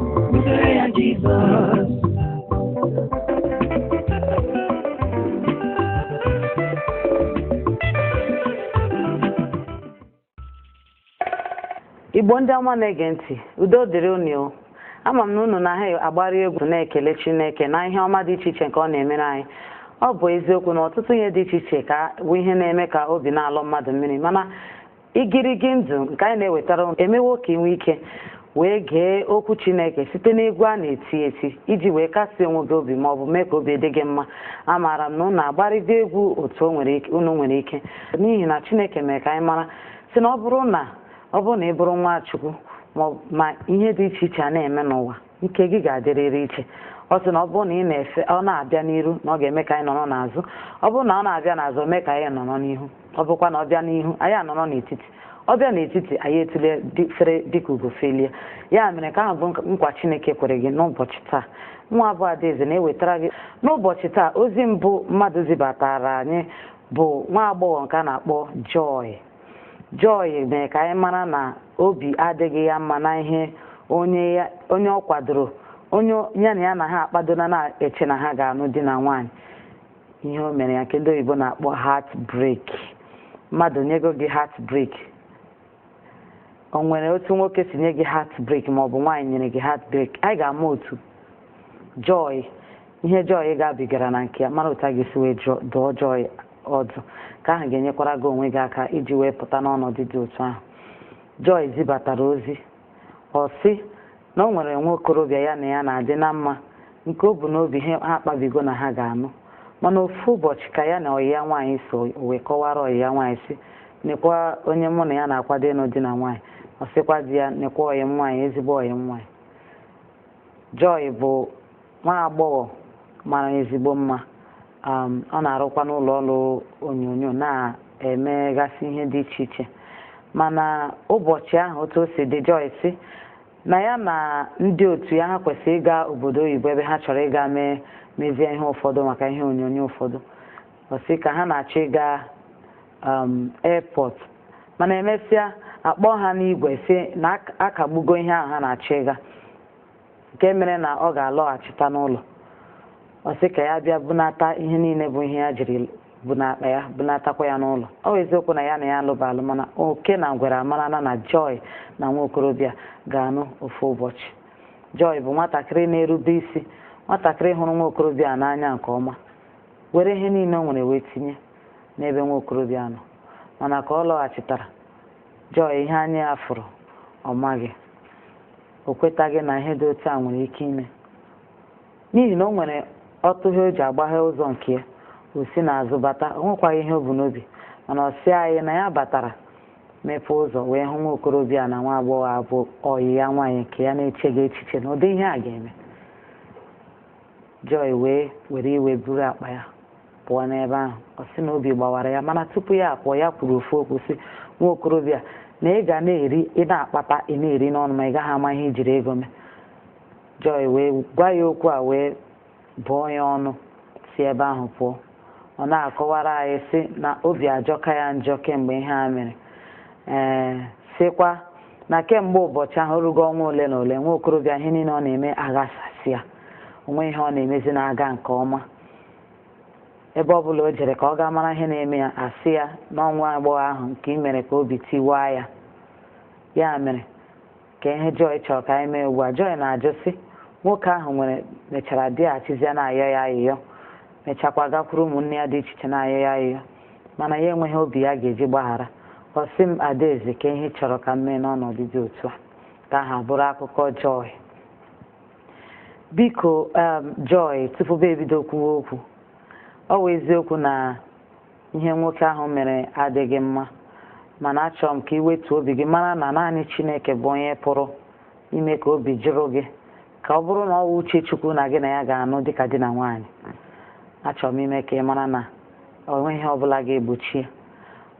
Kpụsara ya Jizọs. igbo ndị ọma na-ege ntị udo dịrị unu o ama m na unu na ha agbarị egwu na-ekele chineke na ihe ọma dị iche iche nke ọ na-emere anyị ọ bụ eziokwu na ọtụtụ ihe dị iche iche ka bụ ihe na-eme ka obi na-alọ mmadụ mmiri mana Igirigi ndụ nke anyị na-ewetara unu emewo ka ị nwee ike wee gee okwu Chineke site n'egwu a na-eti eti iji wee kasie onwe gị obi ma ọ bụ mee ka obi dị gị mma. Amaara m na unu agbarịgo egwu otu unu nwere ike n'ihi na Chineke mere ka anyị mara sị na ọ bụrụ na ọ bụrụ na ị bụrụ nwa Chukwu ma ihe dị iche iche a na-eme n'ụwa nke gị ga-adịrịrị iche ọ sị na ọ bụrụ na ị na-efe ọ na-abịa n'iru na ọ ga-eme ka anyị nọrọ n'azụ ọ bụrụ na ọ na-abịa n'azụ mee ka anyị nọrọ n'ihu ọ bụkwa na ọ bịa n'ihu anyị anọrọ n'etiti ọ bịa n'etiti anyị etule fere dịka ugo felie ya mere ka ahụ bụ nkwa Chineke kwere gị n'ụbọchị taa nwa bụ Adaeze na-ewetara gị n'ụbọchị taa ozi mbụ mmadụ zibatara anyị bụ nwa agbọghọ nke a na-akpọ Joy Joy mere ka anyị mara na obi adịghị ya mma na ihe onye ọ kwadoro onye ya na ya na ha akpadona na-eche na ha ga-anụ di na nwaanyị ihe o mere ya nke ndị oyibo na-akpọ heart break mmadụ nyego gị heart break o nwere otu nwoke si nye gị heart break ma ọ bụ nwaanyị nyere gị heart break anyị ga-ama otu Joy ihe Joy gabigara na nke ya mara otu a ga-esi wee dụọ Joy ọdụ ka ahụ ga-enyekwara gị onwe gị aka iji wee pụta n'ọnọdụ dị otu ahụ Joy zibatara ozi ọ sị na o nwere nwa okorobịa ya na ya na-adị na mma nke o bu n'obi ha akpabigo na ha ga-anụ mana ofu ụbọchị ka ya na ọyị ya nwaanyị so o wee kọwara ọyị ya nwaanyị sị nekwa onye mụ na ya na-akwado ịnụ di na nwaanyị ọ sịkwa di ya nekwa ọyị m nwaanyị ezigbo ọyị m nwaanyị Joy bụ nwa agbọghọ mara ezigbo mma um, ọ na-arụkwa n'ụlọ ọrụ onyonyo na-emegasị ihe dị iche iche mana ụbọchị ahụ otu o si dị Joy sị na ya na ndị otu ya ha kwesịrị ịga obodo oyibo ebe ha chọrọ ịga mee mezie ihe ụfọdụ maka ihe onyonyo ụfọdụ ọ sị ka ha na-achọ ịga um, airport mana emesịa akpọọ ha n'igwe sị na a kagbugo ihe ahụ ha na-achọ ịga nke mere na ọ ga-alọghachita n'ụlọ ọ sị ka ya bịa bunata ihe niile bụ ihe ya jiri bu n'akpa ya bunatakwa ya n'ụlọ ọ bụ eziokwu na ya na ya alụba alụ mana oke na ngwere amarana na Joy na nwa okorobịa ga-anụ ofu ụbọchị Joy bụ nwatakịrị na-erube isi nwatakịrị hụrụ nwa okorobịa n'anya nke ọma were ihe niile o nwere wee tinye n'ebe nwa okorobịa nọ mana ka ọ lọghachitara Joy ihe anya ya fụrụ ọ maghị o kwetaghị na ihe dị otu a nwere ike ime n'ihi na o nwere ọtụghe o ji agbaghe ụzọ nke ya o si n'azụ bata o nwekwaghị ihe o bu n'obi mana ọ sị anyị na ya batara mepee ụzọ wee hụ nwa okorobịa na nwa agbọghọ a bụ ọyị ya nwaanyị nke ya na-echeghị echiche na ụdị ihe a ga-eme Joy wee were iwe buru akpa ya pụọ n'ebe ahụ ọ sị na obi gbawara ya mana tupu ya apụọ ya kwuru ofu okwu sị nwa okorobịa na ị ga na-eri ị na-akpata ị na-eri n'ọnụ ma ị gaghị ama ihe i jiri ego mee Joy wee gwa ya okwu a wee bụọ ya ọnụ si ebe ahụ pụọ ọ na-akọwara anyị sị na obi ajọka ya njọ kemgbe ihe a mere ee sịkwa na kemgbe ụbọchị ahụ o rugo ọnwa ole na ole nwa okorobịa ihe niile ọ na-eme aghasasịa o nweghị ihe ọ na-emezi na-aga nke ọma ebe ọ bụla o jere ka ọ gaa mara ihe na-eme ya a sị ya na ọ nwa agbọghọ ahụ nke i mere ka obi tiwaa ya ya mere kee ihe Joy chọrọ ka anyị mee ugbu a Joy na-ajụ sị nwoke ahụ nwere mechara bịaghachizie na-ayọ ya ayịyọ mechakwa gakwuru ụmụnne ya dị iche iche na-ayọ ya ayịyọ mana ya enweghị obi ya ga-eji gbaghara ọ sị m Adaeze kee ihe ị chọrọ ka m mee n'ọnọdụ dị otu a nke ahụ bụrụ akụkọ Joy biko um, Joy tupu m ebido kwuwe okwu ọ wụ eziokwu na ihe nwoke ahụ mere adịghị mma mana achọrọ m ka ị wetuo obi gị mara na naanị Chineke bụ onye pụrụ ime ka obi jụrụ gị ka ọ bụrụ na ọ wụ uche Chukwu na gị na ya ga-anụ dịka di na nwaanyị achọrọ m ime ka ị mara na o nweghị ihe ọbụla ga-egbochi ya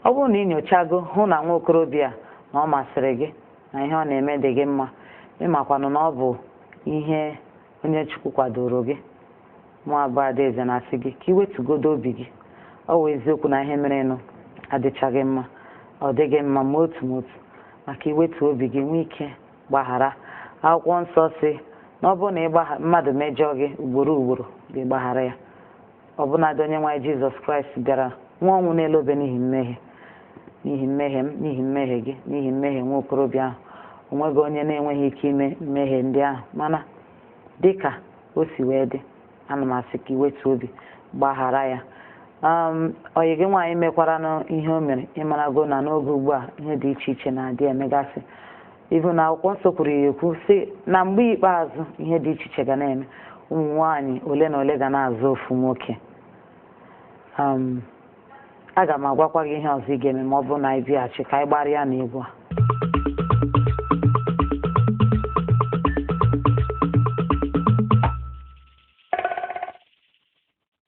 ọ bụrụ na ị nyochago hụ na nwa okorobịa na ọ masịrị gị na ihe ọ na-eme dị gị mma ị makwanụ na ọ bụ ihe onye Chukwu kwadoro gị mụwa bụ Adaeze na-asị gị ka i wetugodu obi gị ọ wụ eziokwu na ihe merenụ adịchaghị mma ọ dịghị mma ma otu ma otu ma ka i wetuo obi gị nwee ike gbaghara akwụkwọ nsọ sị na ọ bụrụ na mmadụ mejọọ gị ugboro ugboro gị gbaghara ya ọbụnadị onye nwe anyị Jizọs Kraịst bịara nwụa ọnwụ n'elu obe n'ihi mmehie n'ihi mmehie m n'ihi mmehie gị n'ihi mmehie nwa okorobịa ahụ o nweghị onye na-enweghị ike ime mmehie ndị ahụ mana dị ka o si wee dị ana m asị ka i wetuo obi gbaghara ya um, ọyị gị nwaanyị mekwaranụ ihe o mere ị marago na n'oge ugbu a ihe dị iche iche na-adị emegasị Even akwụkwọ nsọ kwuru ya ekwu sị na mgbe ikpeazụ ihe dị iche iche ga na-eme ụmụ nwaanyị ole na ole ga na-azọ ofu nwoke um, aga m agwakwa gị ihe ọzọ ị ga-eme ma ọ bụrụ na anyị bịaghachi ka anyị gbarịa na egwu a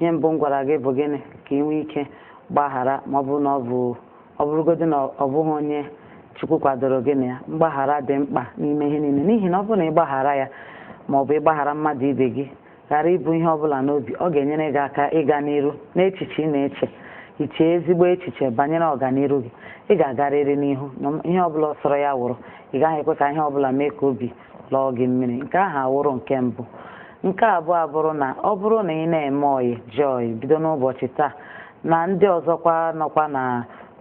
ihe mbụ m gwara gị bụ gịnị ka ị nwee ike gbaghara ma ọ bụrụ na ọ bụ ọ bụrụgodị na ọ bụghị onye chukwu kwadoro gị na ya mgbaghara dị mkpa n'ime ihe niile n'ihi na ọ bụrụ na ị gbaghara ya ma ọ bụ ịgbaghara mmadụ ibe gị ghara ibu ihe ọbụla n'obi ọ ga-enyere gị aka ịga n'iru n'echiche ị na-eche iche ezigbo echiche banyere ọganiru gị ị ga-agarịrị n'ihu ihe ọbụla sọrọ ya wụrụ ị gaghị ekwe ka ihe ọbụla mee ka obi lọọ gị mmiri nke ahụ awụrụ nke mbụ nke abụọ abụrụ na ọ bụrụ na ị na-eme ọyị joy bido n'ụbọchị taa na ndị ọzọkwa nọkwa na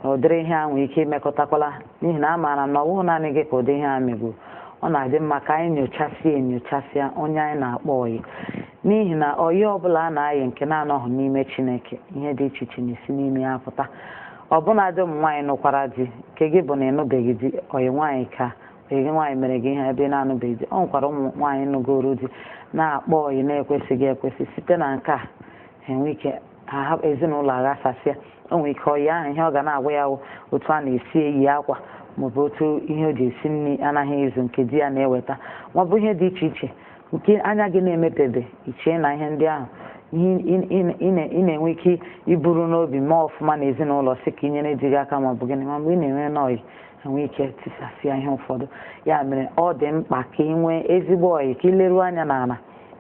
ụdịrị ihe a nwee ike imekọtakwala n'ihi na amaara m na ọ bụghị naanị gị ka ụdị ihe a megburu ọ na-adị mma ka anyị nyochasịa enyochasịa onye anyị na-akpọ ọyị n'ihi na ọyị ọbụla a na-ayị nke na-anọghị n'ime chineke ihe dị iche iche na-esi n'ime ya pụta ọbụnadị ụmụ nwaanyị nụkwara di nke gị bụ na ị nụbeghị di ọyị nwaanyị ka gị nwaanyị mere gị ihe ebe ị na-anụbeghị di o nwekwara ụmụ nwaanyị nụgoro di na-akpọ ọyị na-ekwesịghị ekwesị site na nke a enwe ike ezinụlọ aghasasịa o nwere ike ọyị ahụ ihe ọ ga na-agwa ya wụ otu a na-esi eyi akwa maọbụ otu ihe o ji esi nri anaghị ezu nke di ya na-eweta maọbụ ihe dị iche iche nke anya gị na-emepebe ị chee na ihe ndị ahụ ihe ị- ị- ị na- ị na-enwe ike iburu n'obi mee ọfụma n'ezinụlọ sị ka ị nyere di gị aka maọbụ gịnị ma mgbe ị na-enwe n'ọyị ha nwee ike tisasịa ihe ụfọdụ ya mere ọ dị mkpa ka ị nwee ezigbo ọyị ka ị leruo anya n'ala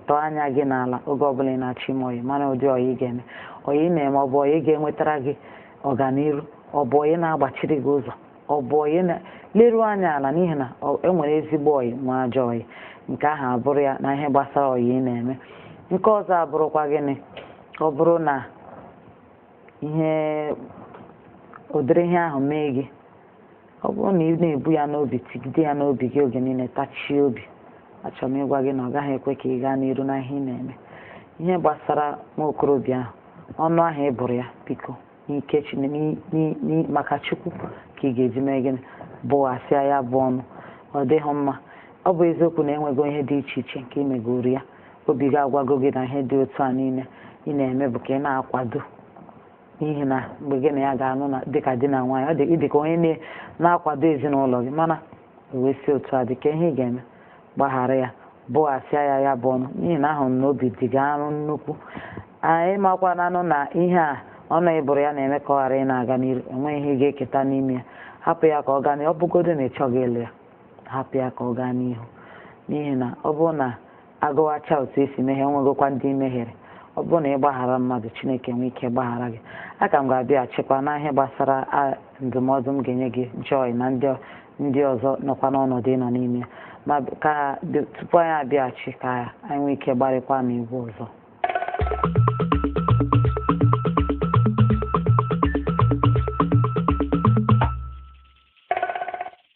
tọọ anya gị n'ala oge ọbụla ị na-achọ ime ọyị mara ụdị ọyị ị ga-eme ọyị ị na-eme ọ bụ ọyị ga-enwetara gị ọganiru ọ bụ ọyị na-agbachiri gị ụzọ ọ bụ ọyị na leruo anya ala n'ihi na ọ- e nwere ezigbo ọyị nwee ajọ ọyị nke ahụ abụrụ ya na ihe gbasara ọyị ị na-eme nke ọzọ abụrụkwa gịnị ọ bụrụ na ihe ụdịrị ihe ahụ mee gị ọ bụrụ na ị na-ebu ya n'obi tigide ya n'obi gị oge niile tachie obi achọrọ m ịgwa gị na ọ gaghị ekwe ka ị gaa n'iru na ihe ị na-eme ihe gbasara nwa okorobịa ahụ ọnụ ahụ ị bụrụ ya biko n'ike maka chukwu ka ị ga-eji mee gịnị bụghasịa ya bụ ọnụ ọ dịghị mma ọ bụ eziokwu na e nwego ihe dị iche iche nke ị megoro ya obi gị agwago gị na ihe dị otu a niile ị na-eme bụ ka ị na-akwado n'ihi na mgbe gị na ya ga-anụ na dịka di na nwaanyị ọ dị ịdị ka onye na-akwado ezinụlọ gị mana ebe o si otu a dị ka ihe ị ga-eme gbaghara ya bụghasịa ya ya bụ ọnụ n'ihi na ahụrụ m na obi dị gị arụ nnukwu anyị makwananụ na ihe a ọnụ ị bụrụ ya na-eme ka ọ ghara ịna-aga n'iru enweghị ihe ị ga-eketa n'ime ya hapụ ya ka ọ gaa ọ bụgodo na ị chọghị ịlụ ya hapụ ya ka ọ gaa n'ihu n'ihi na ọ bụrụ na agụwacha otu esi mehie nwegokwa ndị i mehiere ọ bụrụ na ị gbaghara mmadụ chineke nwee ike gbaghara gị aka m ga-abịaghachikwa na ihe gbasara ndụmọdụ m ga-enye gị joy na ndị ọzọ nọkwa n'ọnọdụ ị nọ n'ime ya ma ka tupu anyị abịaghachi ka anyị nwee ike gbarịkwa na egwu ọzọ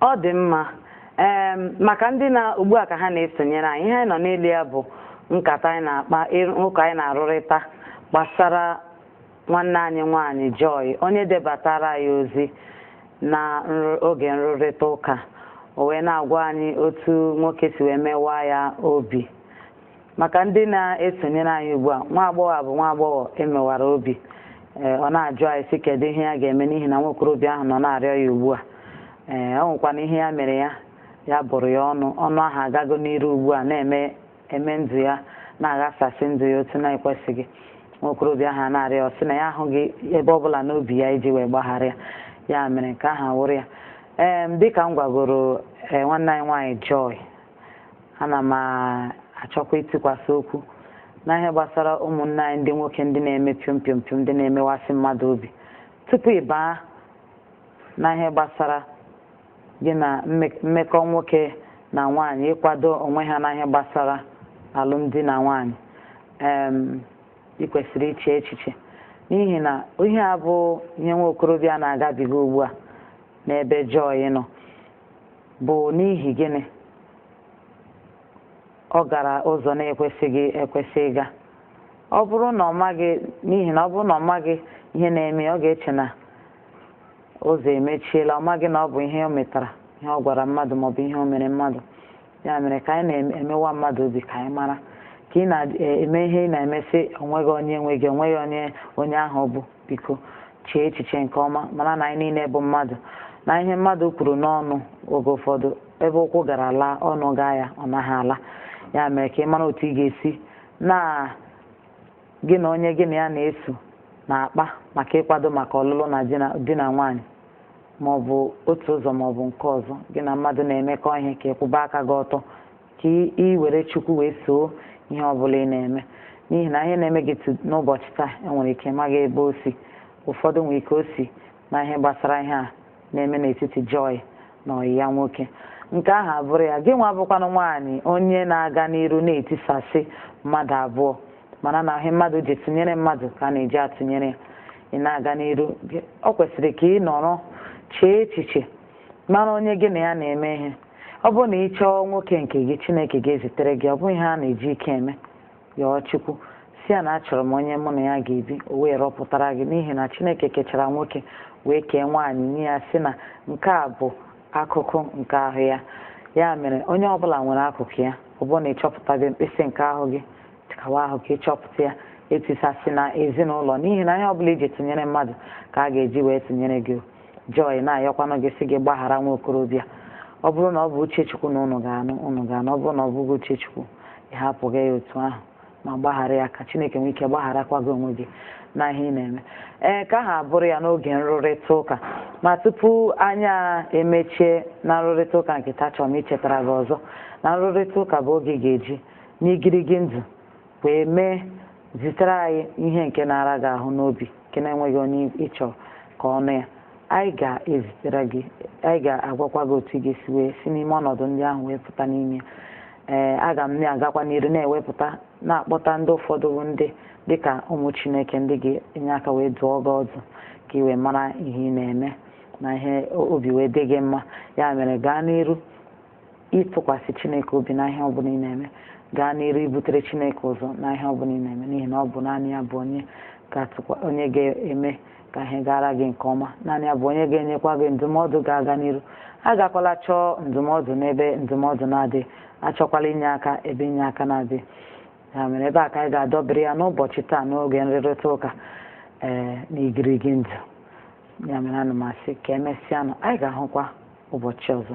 ọ dị mma ee maka ndị na ugbu a ka ha na-esonyere anyị ihe anyị nọ n'elu ya bụ nkata anyị na-akpa ụka anyị na-arụrịta gbasara nwanne anyị nwaanyị Joy onye debatara anyị ozi na oge nrụrịta ụka o wee na-agwa anyị otu nwoke si wee mewaa ya obi Maka ndị na-esonyere anyị ugbu a, nwa agbọghọ a bụ nwa agbọghọ e mewara obi. Ee, ọ na-ajụ anyị sị kedụ ihe ya ga-eme n'ihi na nwa okorobịa ahụ nọ na-arịọ ya ugbu a. Ee, ọ nwekwana ihe ya mere ya, ya bụrụ ya ọnụ. Ọnụ ahụ agago n'iru ugbu a na-eme eme ndụ ya, na-aghasasị ndụ ya otu na-ekwesịghị. Nwa okorobịa ahụ a na-arịọ ya, ọ sị na ya ahụghị ebe ọ bụla n'obi ya iji wee gbaghara ya. Ya mere nke ahụ awụrụ ya. Ee, dịka m gwagoro ee, nwanne anyị nwaanyị Joy, ana m achọkwa itikwasị okwu na ihe gbasara ụmụnne anyị ndị nwoke ndị na-eme piom piom piom ndị na-emewasị mmadụ obi tupu ị baa na ihe gbasara gị na mmekọ nwoke na nwaanyị ịkwado onwe ha na ihe gbasara alụmdi na nwaanyị ị kwesịrị iche echiche n'ihi na ihe a bụ ihe nwa okorobịa na-agabiga ugbu a n'ebe Joy nọ bụ n'ihi gịnị ọ gara ụzọ na-ekwesịghị ekwesị ịga ọ bụrụ na ọ maghị n'ihi na ọ bụrụ na ọ maghị ihe na-eme ọ ga-eche na ụzọ emechiela ọ maghị na ọ bụ ihe o metara ihe ọ gwara mmadụ maọbụ ihe o mere mmadụ ya mere ka anyị na-emewa mmadụ obi ka anyị mara ka ị na-eme e, ihe ị na-eme sị onweghị onye nwe gị onweghị onye onye ahụ bụ biko chee echiche nke ọma mara na anyị niile bụ mmadụ na ihe mmadụ kwuru n'ọnụ oge ụfọdụ ebe ụkwụ gara laa ọnụ gaa ya ọ naghị ala ya mere ka ị mara otu ị ga-esi na Gị na onye gị na ya na-eso na-akpa maka ịkwado maka ọlụlụ na di na nwaanyị ma ọ bụ otu ụzọ ma ọ bụ nke ọzọ gị na mmadụ na-emekọ ihe ka ị kwụba aka gị ọtọ ka ị were Chukwu wee soo ihe ọ bụla ị na-eme n'ihi na ihe na-eme gị n'ụbọchị taa enwere ike ị maghị ebe o si ụfọdụ nwere ike o si na ihe gbasara ihe a na-eme n'etiti Joy na ọyị ya nwoke nke ahụ abụrụ ya gị nwa bụkwanụ nwaanyị onye na-aga n'iru na-etisasị mmadụ abụọ mana na ihe mmadụ ji tụnyere mmadụ ka a na-eji atụnyere ya ị na-aga n'iru gị- ọ kwesịrị ka ị nọrọ chee echiche mara onye gị na ya na-eme ihe ọ bụrụ na ị chọọ nwoke nke gị chineke ga-ezitere gị ọ bụghị ihe a na-eji ike eme yọọ Chukwu sị ya na achọrọ m onye mụ na ya ga-ebi o wee rọpụtara gị n'ihi na Chineke kechara nwoke wee kee nwaanyị nye ya sị na nke a bụ akụkụ nke ahụ ya ya mere onye ọbụla nwere akụkụ ya ọ bụrụ na ị chọpụtabeghị mkpịsị nke ahụ gị tikawa ahụ ka ị chọpụta ya etisasịna ezinụlọ n'ihi na ihe ọbụla i ji tụnyere mmadụ ka a ga-eji wee tụnyere gị Joy na-ayọkwanụ gị sị gị gbaghara nwa okorobịa ọ bụrụ na ọ bụ uche Chukwu na ụnụ ga-anụ ụnụ ga-anụ ọ bụrụ na ọ bụghị uche Chukwu ị hapụghị ya otu ahụ ma gbaghara ya ka chineke nwee ike gbagharakwa gị onwe gị na ihe ị na-eme ee nke ahụ abụrụ ya n'oge nrụrịta ụka ma tupu anyị emechie na nrụrịta ụka nke taa achọ m ichetara gị ọzọ na nrụrịta ụka bụ oge ị ga-eji n'igirigi ndụ wee mee zitere anyị ihe nke na-ara gị ahụ n'obi nke na-enweghị onye ị chọ ka ọ nụ ya anyị ga-ezitere gị anyị ga-agwakwa gị otu ị ga-esi wee si n'ime ọnọdụ ndị ahụ wee pụta n'ime ee eh, aga m na-agakwa n'iru na-ewepụta na-akpọta ndị ụfọdụ bụ ndị dịka ụmụ chineke ndị ga-enye aka wee dụọ gị ọdụ ka ị wee mara ihe ị na-eme na ihe obi wee dị gị mma ya mere gaa n'iru ịtụkwasị Chineke obi na ihe ọbụla ị na-eme gaa n'iru ibutere Chineke ụzọ na ihe ọbụla ị na-eme n'ihi na ọ bụ naanị ya bụ onye onye ga-eme ka ihe gara gị nke ọma naanị ya bụ onye ga-enyekwa gị ndụmọdụ ga-aga n'iru agakwala chọọ ndụmọdụ n'ebe ndụmọdụ na-adịghị achọkwala inye aka ebe inye aka na-adịghị ya mere ebe a ka anyị ga-adọbiri ya n'ụbọchị taa n'oge nrịrịta ụka ee eh, na igirigi ndụ ya mere ana m asị ka emesịanụ anyị ga-ahụkwa ụbọchị ọzọ